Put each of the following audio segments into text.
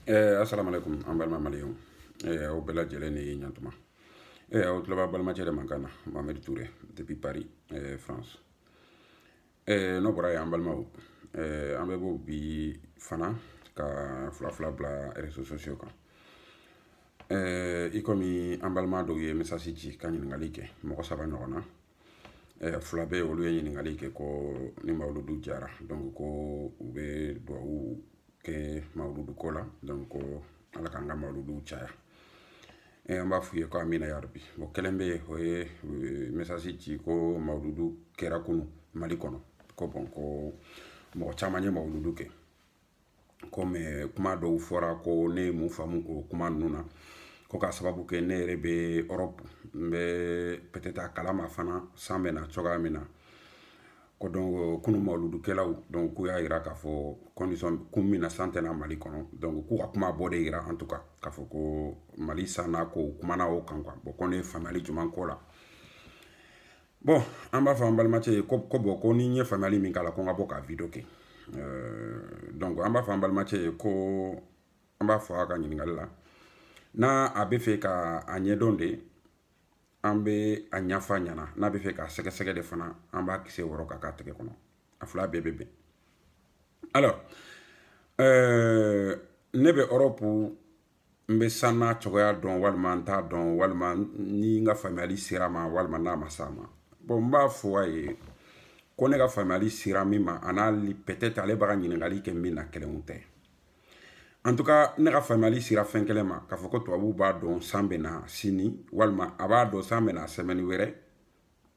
Eh, assalamu alaikum an balima maliyɛnw eh, aw bɛɛ lajɛlen ni ɲantuma eh, aw tulo b'a balimacɛ de mankan na mohamed toure depuis paris eh, france eh, n'o bɔra yen an balimaw eh, an bɛ bɔ bi fana ka fila fila bila réseaux sociaux kan eh, i komi an balima dɔw ye message ci ka ɲininkali kɛ mɔgɔ saba ɲɔgɔn na eh, fila bɛ olu ye ɲininkali kɛ ko ni mawuludu diyara donc ko u bɛ duwawu kɛ mawuludu ko la donc ko ala k'an ka mawuludu caya eh, an b'a f'u ye ko amina yarabi bɔn kelen bɛ o ye eh, message ci ko mawuludu kɛra kunu mali kɔnɔ ko bɔn ko mɔgɔ caman ye mawuludu kɛ ko mais kuma dɔw fɔra ko ne ye mun faamu o kuma ninnu na ko k'a sababu kɛ ne yɛrɛ bɛ europe n bɛ peut-être a kalama fana san bɛ na cogoya min na ko donc kunu mawuludukɛlaw donc k'u y'a yira k'a fɔ condition kun min na san tɛ na mali kɔnɔ donc k'u ka kuma b'o de yira en tout cas k'a fɔ ko mali san n'a ko kumana o kan quoi bon ko ne ye faamuyali jumɛn k'o la bɔn an b'a fɔ an balimacɛ ye ko bɔn ko ni n ye faamuyali min k'a la ko n ka bɔ ka video kɛ euh, donc an b'a fɔ an balimacɛ ye ko an b'a fɔ a ka ɲininkali la n'a a bɛ fɛ ka a ɲɛdɔn de an bɛ a ɲɛfɔ a ɲɛna n'a bɛ fɛ k'a sɛgɛsɛgɛ de fana an b'a kisɛ wɔrɔ k'a k'a tɛgɛ kɔnɔ a fila bɛɛ bɛ bɛn alors euh, ne bɛ europe n bɛ san n'a cogoya dɔn walima n t'a dɔn walima ni n ka faamuyali ser'a ma walima n'a ma s'a ma bɔn n b'a fɔ a ye ko ne ka faamuyali sera min ma a n'a peut-être ale b'a ka ɲininkali kɛ min na kelen tɛ en tout cas ne ka faamuyali sera fɛn kelen ma k'a fɔ ko tubabuw b'a dɔn san bɛ na sini walima a b'a dɔn san bɛ na semaine wɛrɛ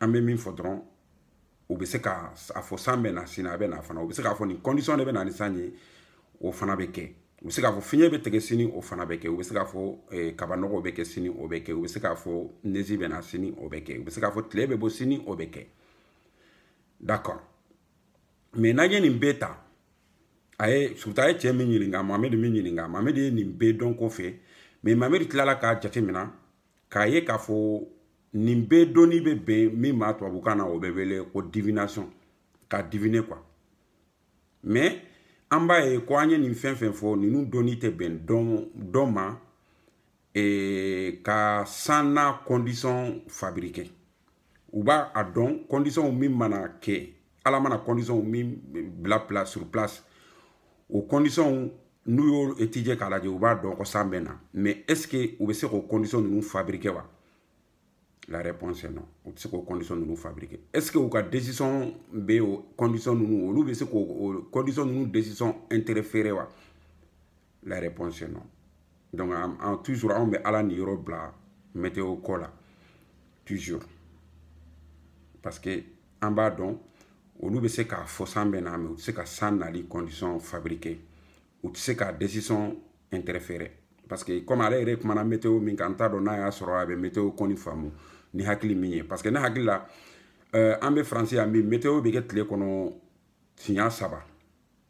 an bɛ min fɔ dɔrɔn u bɛ se ka a fɔ san bɛ na sini a bɛ na fana u bɛ se k'a fɔ nin condition de bɛ na ni san ye o fana bɛ kɛ u bɛ se k'a fɔ fiɲɛ bɛ tigɛ sini o fana bɛ kɛ u bɛ se k'a fɔ eh, kabanɔgɔ bɛ kɛ sini o bɛ kɛ u bɛ se k'a fɔ neige bɛ na sini o bɛ kɛ u bɛ se k'a fɔ tile bɛ bɔ sini o bɛ kɛ d'accord mais n'an ye nin bɛɛ ta a ye surtout a ye cɛ min ɲininka mohamed min ɲininka mohamed ye nin bɛɛ dɔn ko fɛ mais mohamed tilala k'a jate minɛ k'a ye k'a fɔ nin bɛɛ dɔnni bɛ bɛn min ma tubabukan na o bɛ wele ko divination ka diviner quoi mais an b'a ye ko an ye nin fɛn fɛn fɔ ninnu dɔnni tɛ bɛn dɔn ma e, ka san n'a condition fabriquer u b'a a dɔn condition min mana kɛ ala mana conditionw min bila pla sur place o conditionw n'u y'o étudier k'a lajɛ u b'a dɔn ko san bɛ na mais est ce que u bɛ se k'o condition ninnu fabriquer wa la réponse est non u tɛ se k'o condition ninnu fabriquer est ce que u ka décision bɛ o condition ninnu olu bɛ se k'o condition ninnu décision interférer wa la réponse est non donc an, an toujours anw bɛ ala niyɔrɔ bila météo ko la toujours parce que an b'a dɔn olu bɛ se k'a fɔ san bɛ na mais u tɛ se ka san nali condition fabriquer u tɛ se ka décision interférer parce que comme ale yɛrɛ kumana météo min kan n t'a dɔn n'a y'a sɔrɔ a bɛ météo kɔni faamu ni hakili min ye parce que ne hakili la euh, an bɛ faransi yan bi météo bɛ kɛ tile kɔnɔ siɲɛ saba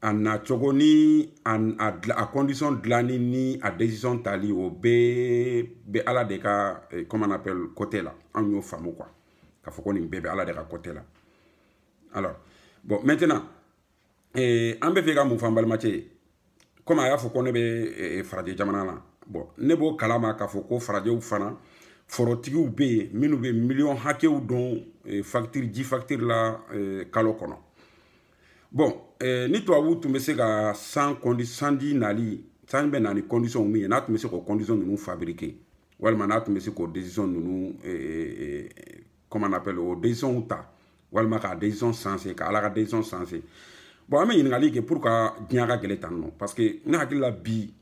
a nacogo ni a, a, a condition dilanni ni a décision tali o bɛɛ bɛ ala de ka eh, comment on appelle côté la anw y'o faamu quoi k'a fɔ ko nin bɛɛ bɛ ala de ka côté la alors bon maintenant eh, an bɛ fɛ ka mun fɔ an balimacɛ ye comme a y'a fɔ ko ne bɛ eh, farajɛ jamana na bon ne b'o kalama k'a fɔ ko farajɛw fana forotigiw bɛ yen minnu bɛ miliyɔn hakɛw don eh, facture ji facture la eh, kalo kɔnɔ bon eh, ni tubabuw tun bɛ se ka san kɔndi sanji nali sanji bɛ na ni conditionw min ye n'a tun bɛ se k'o condition ninnu fabriquer walima n'a tun bɛ se k'o décision ninnu eh, eh, eh comment on appelle o décisionw ta walima k'a décision changer ka ala ka décision changer bon an bɛ ɲininkali kɛ pourquoi diɲɛ ka gɛlɛn tan non parce que ne hakili la bi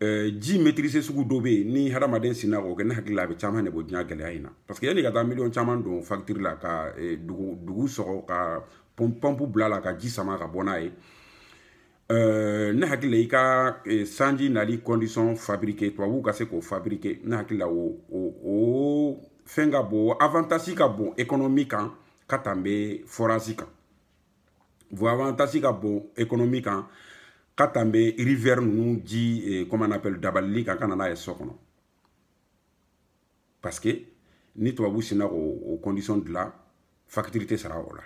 Eh, ji maîtrise sugu dɔ bɛ yen ni hadamaden sinna k'o kɛ ne hakili la a bɛ caman de bɔ diɲɛ gɛlɛya in na parce que yanni ka taa miliyɔn caman don facture la ka eh, dugu dugu sɔgɔ ka pɔnpu bila a la ka ji sama ka bɔ n'a ye eh, ne hakili la i ka sanji nali condition fabriquer tubabuw ka se k'o fabriquer ne hakili la o o fɛn ka bon avantage ka bon économie kan ka tɛmɛ forage kan o avantage ka bon économie kan ka tɛmɛ rivière ninnu ji eh, comment on appelle dabalili kan ka na n'a ye so kɔnɔ parce que ni tubabu sinna k'o condition dilan facture tɛ sara o la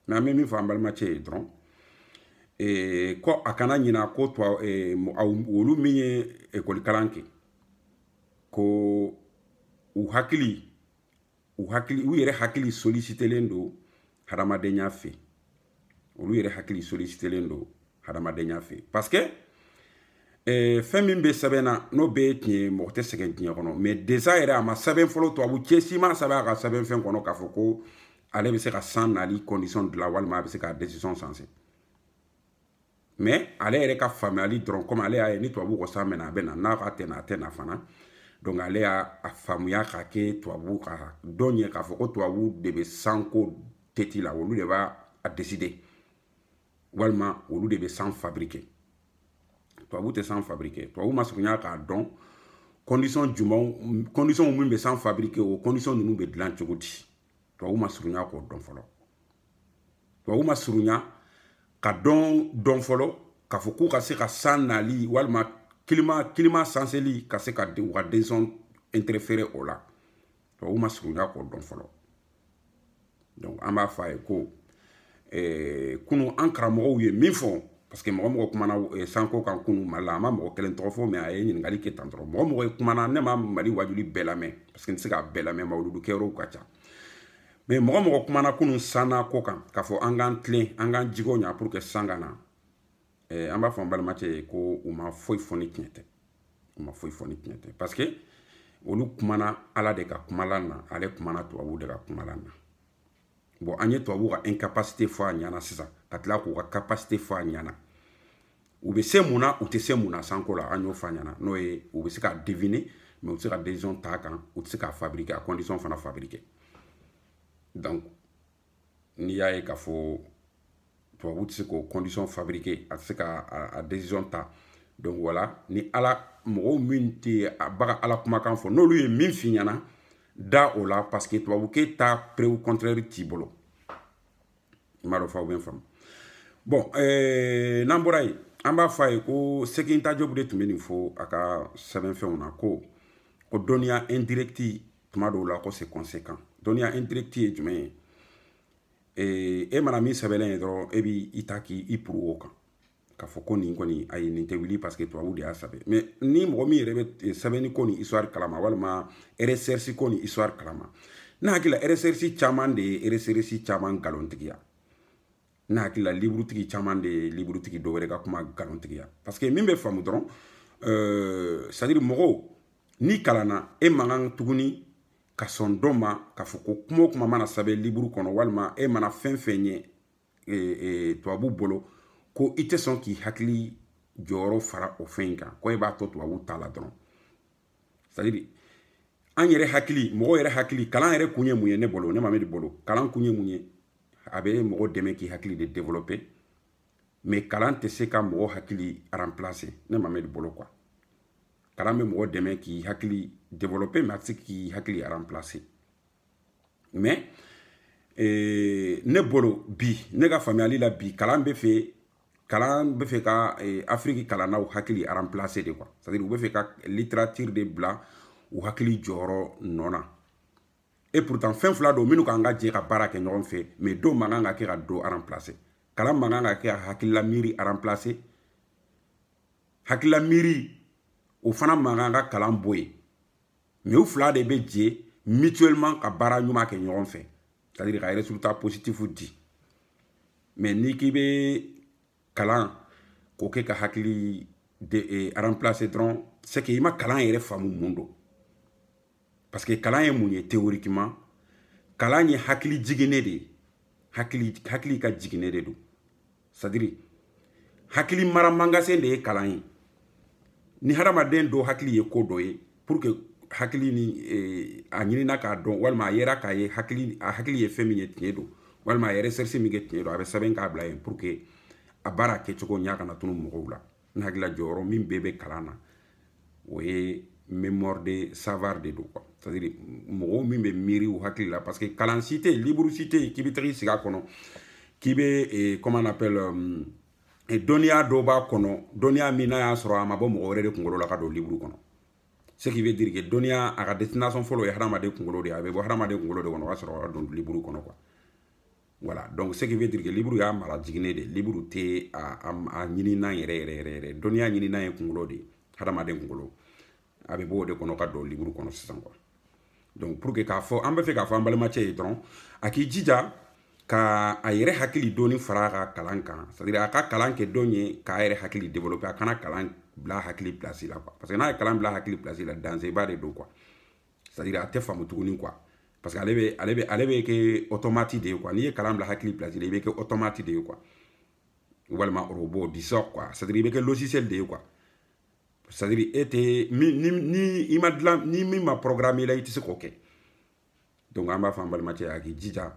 mais an bɛ min fɔ an balimacɛ ye dɔrɔn eh, ko a kana ɲina ko tuwa eh, olu min ye ekɔlikalan kɛ ko u hakili u hakili u yɛrɛ hakili solisitelen don hadamadenya fɛ olu yɛrɛ hakili solisitelen don hadamadenya fɛ parce que eh, fɛn min bɛ sɛbɛn na n'o bɛɛ ye tiɲɛ ye mɔgɔ tɛ sɛgɛn diɲɛ kɔnɔ mais déjà yɛrɛ a ma sɛbɛn fɔlɔ tubabucɛ si ma sɛbɛn a ka sɛbɛn fɛn kɔnɔ k'a fɔ ko ale bɛ se ka san nali condition dilan walima a bɛ se ka décision changer mais ale yɛrɛ ka faamuyali dɔrɔn comme ale y'a ye ni tubabuw ko san bɛ na a bɛ na n'a k'a tɛ na a tɛ na fana donc ale y'a faamuya k'a kɛ tubabuw ka dɔn ye k'a fɔ ko tubabuw de bɛ sanko tête la olu de b'a décider walima olu de bɛ san fabriquer tubabu tɛ san fabriquer tubabu ma surunya k'a dɔn condition jumɛnw condition min bɛ san fabriquer o condition ninnu bɛ dilan cogo di tubabu ma surunya k'o dɔn fɔlɔ tubabu ma surunya ka dɔn dɔn fɔlɔ k'a fɔ k'u ka se ka san nali walima climat climat sanseli ka se ka u ka décision interférer o la tubabu ma surunya k'o dɔn fɔlɔ donc an b'a fɔ a ye ko eh, kunu an karamɔgɔw ye min fɔ parce que mɔgɔ mɔgɔ kumana eh, sanko kan kunu mali la a ma mɔgɔ kelen tɔgɔ fɔ mais a ye ɲininkali kɛ tan dɔrɔn mɔgɔ mɔgɔ kumana ne ma mali wajuli bɛɛ lamɛn parce que n tɛ se k'a bɛɛ lamɛn mawuludu kɛyɔrɔw ka ca mais mɔgɔ mɔgɔ kumana kunu sanna ko kan k'a fɔ an k'an tilen an k'an jigo ɲa pour que san ka na eh, an b'a fɔ an balimacɛ ye ko u ma foyi fɔ ni tiɲɛ tɛ u ma foyi fɔ ni tiɲɛ tɛ parce que olu kumana ala de ka kumalan na ale kumana tubabuw de ka kumalan na bon an ye tubabuw ka incapacité fɔ a ɲana sisan ka tila k'u ka capacité fɔ a ɲana u bɛ se mun na u tɛ se mun na sanko la an y'o fɔ a ɲana n'o ye u bɛ se ka deviner mais u tɛ se ka décision ta a kan u tɛ se k'a fabriquer a condition fana fabriquer donc n'i y'a ye k'a fɔ tubabu tɛ se k'o condition fabriquer a tɛ se ka a décision ta donc voilà ni ala mɔgɔw min tɛ a baga ala kumakan fɔ n'olu ye min f'i ɲɛna da o la parce que tubabukɛ ta preuve contraire t'i bolo i m'a dɔn f'aw bɛ n faamu bon eh, n'an bɔra yen an b'a fɔ a ye ko cheikh anta diop de tun bɛ nin fɔ a ka sɛbɛnfɛnw na ko ko dɔnniya indirecte tuma dɔw la ko c'est conséquent dɔnniya indirecte ye jumɛn ye ee, e mana min sɛbɛnlen ye dɔrɔn e b'i ta k'i puru o kan k'a fɔ ko nin kɔni ayi nin tɛ wuli parce que tubabu de y'a sɛbɛn mais ni mɔgɔ min yɛrɛ bɛ sɛbɛnni ko ni histoire kalama walima recherche ko ni histoire kalama ne hakili la recherche caman de ye recherche caman nkalontigiya ne hakili la liburutigi caman de ye liburutigi dɔ wɛrɛ ka kuma nkalontigiya parce que min bɛ faamu dɔrɔn euh, c'est à dire mɔgɔw n'i kalanna e man kan tuguni ka sɔn dɔ ma k'a fɔ ko kuma o kuma mana sɛbɛn liburu kɔnɔ walima e mana fɛn fɛn ye e, e, tubabu bolo ko i tɛ sɔn k'i hakili jɔyɔrɔ fara o fɛn in kan ko e b'a to tubabu ta la dɔrɔn c'est à dire an yɛrɛ hakili mɔgɔ yɛrɛ hakili kalan yɛrɛ kun ye mun ye ne bolo ne mamɛdi bolo kalan kun ye mun ye a bɛ mɔgɔ dɛmɛ k'i hakili de développer mais kalan tɛ se ka mɔgɔ hakili remplacer ne mamɛdi bolo quoi kalan bɛ mɔgɔ dɛmɛ k'i hakili développer mais a tɛ se k'i hakili remplacer mais eh, ne bolo bi ne ka faamuyali la bi kalan bɛ fɛ kalan bɛ fɛ ka eh, afiriki kalannaw hakili remplacer de quoi c'est à dire u bɛ fɛ ka littérature de bila u hakili jɔyɔrɔ nɔ na et pourtant fɛn fila don minnu kan ka jɛ ka baara kɛ ɲɔgɔn fɛ mais dɔw man kan ka kɛ ka dɔ remplacer kalan man kan ka kɛ ka hakilila miiri remplacer hakilila miiri o fana man kan ka kalan bɔ yen mais u fila de bɛ jɛ mutuellement ka baara ɲuman kɛ ɲɔgɔn fɛ c'est à dire ka résultat positif di mais n'i k'i bɛ kalan k'o kɛ ka hakili de eh, remplacer dɔrɔn c'est que i ma kalan yɛrɛ faamu mun don parce que kalan ye mun ye théoriquement kalan ye hakili jiginne de ye hakili hakili ka jiginne de don c'est à dire hakili mara magasin de ye kalan ye ni hadamaden dɔ hakili ye ko dɔ ye pour que hakili ni eh, a ɲinina k'a dɔn walima a yera k'a ye hakili a hakili ye fɛn min ye tiɲɛ don walima a ye recherche min kɛ tiɲɛ don a bɛ sɛbɛn k'a bila yen pour que a baara kɛcogoya kana tunu mɔgɔw la n hakili la jɔyɔrɔ min bɛɛ bɛ kalan na o ye mémoire de savoir de don quoi c'est à dire mɔgɔw min bɛ miiri u hakili la parce que kalan si tɛ yen liburu si tɛ yen k'i bɛ taga i sigi a kɔnɔ k'i bɛ eh, comment on appelle euh, eh, dɔnniya dɔ b'a kɔnɔ dɔnniya min n'a y'a sɔrɔ a ma bɔ mɔgɔ wɛrɛ de kunkolo la ka don liburu kɔnɔ ce qui veut dire que dɔnniya a ka destination fɔlɔ ye hadamaden kunkolo de ye a bɛ bɔ hadamaden kunkolo de kɔnɔ o y'a sɔrɔ a don liburu kɔnɔ quoi voilà donc ce qui veut dire que liburu y'a mara jiginne de liburu tɛ a a ɲininan yɛrɛ yɛrɛ yɛrɛ yɛrɛ dɔnniya ɲininan ye kunkolo de ye hadamaden kunkolo a bɛ bɔ o de kɔnɔ ka don liburu kɔnɔ sisan quoi donc pour que k'a fɔ an bɛ fɛ k'a fɔ an balimacɛ ye dɔrɔn a k'i jija ka a yɛrɛ hakili dɔɔni fara a ka kalan kan c'est à dire a ka kalan kɛ dɔn ye k'a yɛrɛ hakili développer a kana kalan bila hakili place la quoi parce que n'a ye kalan bila hakili place la danger ba de don quoi c'est à dire a tɛ faamu tuguni quoi parce que ale bɛ ale bɛ ale bɛ kɛ automate de ye quoi n'i ye kalan bila hakili place la i bɛ kɛ automate de ye quoi walima robot disons quoi c'est à dire i bɛ kɛ logiciel de ye quoi c'est à dire e tɛ ni ni ni i ma dilan ni min ma programmer i la i tɛ se k'o kɛ donc an b'a fɔ an balimacɛ a k'i jija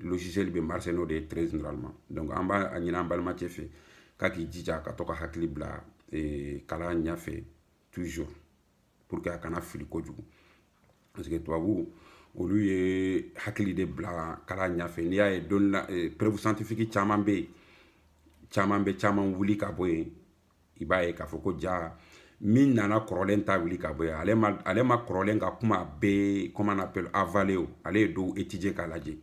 logiciel bɛ marcher n'o de ye très généralement donc an b'a ɲini an balimacɛ fɛ k'a k'i jija ka to ka hakili bila eh, kalan ɲɛfɛ toujours pour que a kana fili kojugu parce que tubabu olu ye hakili de bila kalan ɲɛfɛ n'i y'a ye dɔnni la preuve scientifique caman bɛ yen caman bɛ caman wuli ka bɔ yen i b'a ye k'a fɔ ko ja min nana kɔrɔlen ta wuli ka bɔ yen ale ma ale ma kɔrɔlen ka kuma bɛɛ comment on appelle avaler o ale ye dɔw étudier k'a lajɛ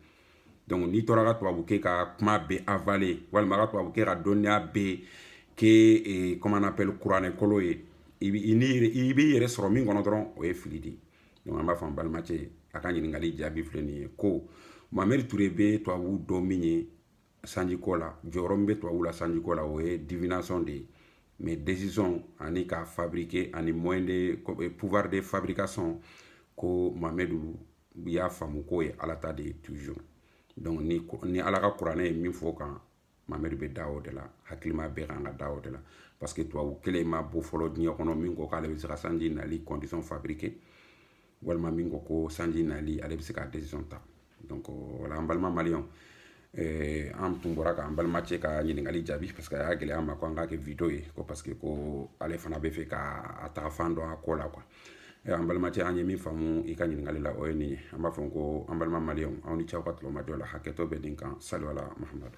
donc n'i tora ka tubabukɛ ka kuma bɛɛ avaler walima ka tubabukɛ ka dɔnniya bɛɛ kɛ eh, comment on appelle kuranɛ kolo ye i b'i yɛrɛ sɔrɔ min kɔnɔ dɔrɔn o ye fili de ye donc an b'a fɔ an balimacɛ ye a ka ɲininkali jaabi filɛ nin ye ko mamɛdi ture bɛ tubabu dɔn min ye sanjiko la jɔyɔrɔ min bɛ tubabuw la sanjiko la o ye divination de ye mais décision ani ka fabriquer ani moyen de eh, pouvoir de fabrication ko mamɛdi y'a faamu k'o ye ala ta de ye toujours donc ni, ni ala ka kuranɛ ye min fɔ kan mamɛdi bɛ da o de la hakilima bɛɛ kan ka da o de la parce que tubabu kelen ma bɔ fɔlɔ diɲɛ kɔnɔ min ko k'ale bɛ se ka sanji nali condition fabriquer walima min ko ko sanji nali ale bɛ se ka décision ta donc voilà an balima maliyɛnw eh, an tun bɔra k'an balimacɛ ka ɲininkali jaabi parce que a y'a gɛlɛya an ma ko an k'a kɛ vidéo ye ko parce que ko ale fana b'a fɛ ka an ta fan dɔn a ko la quoi eh, an balimacɛ an ye min faamu i ka ɲininkali la o ye nin ye an b'a fɔ ko an balima maliyɛnw aw ni ce aw ka tulomajɔ la hakɛto bɛ nin kan salu ala mahamadu